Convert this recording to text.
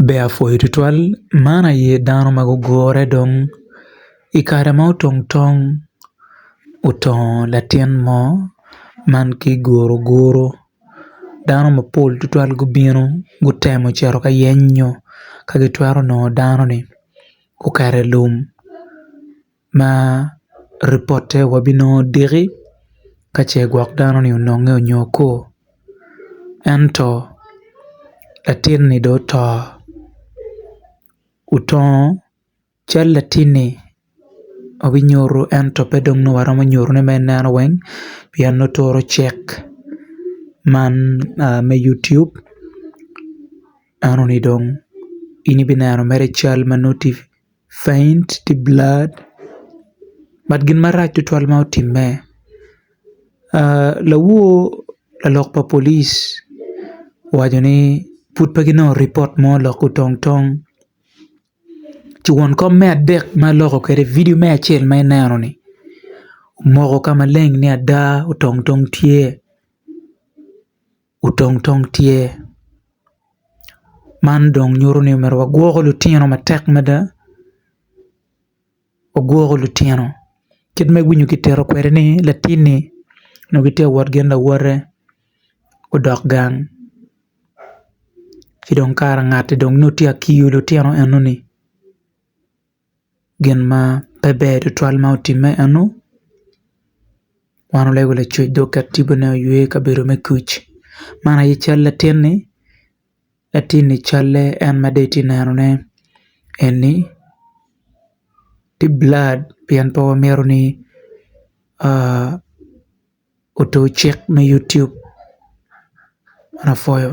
Ber apwoyo tutwal man aye dano ma gugure dong i kare ma otong tong otongo latin mo man ki guru guru dano mapol tutwal gubino gutemo cito ka yenyo ka gitwero nongo dano-ni oketo i lum ma ripote wabinongo diki ka ce gwok dano ni ononge onyo okur ento latin ni dong oto otongo cal latin ni wabinyuto ento pe dong nongo waromo nyuto ne ma i neno weng pien nongo turo cek man me yutub eno ni dong in ibineno mere cal ma nongo tye Faint the blood but gin marac tutwal ma otimme lawor lalok pa police owaco ni pud pe ginongo ripot mo lok otong tong ci won kom me adek ma aloko kwede vidio me acel ma ineno ni omoko ka maleng ni ada otong tong tye. otong tong tye man dong nyuto ni myero wagwok lutino matek mada wagwok lutino kit ma iwinyo kitito kwede ni latin ni onongo gitye ka wot gin lawote odok gang ci dong kara ngatti dong nongo tye ka kiyo lutino eno ni. gin ma pe ber tutwal ma otimme eno wan olego lacoc dok oket tibu ne oywe i kabedo me kuc man aye cal latin ni latin ni calle en ma dong itye neno ne eni tye blur pien pe wamito ni oto cik me YouTube ma pwoyo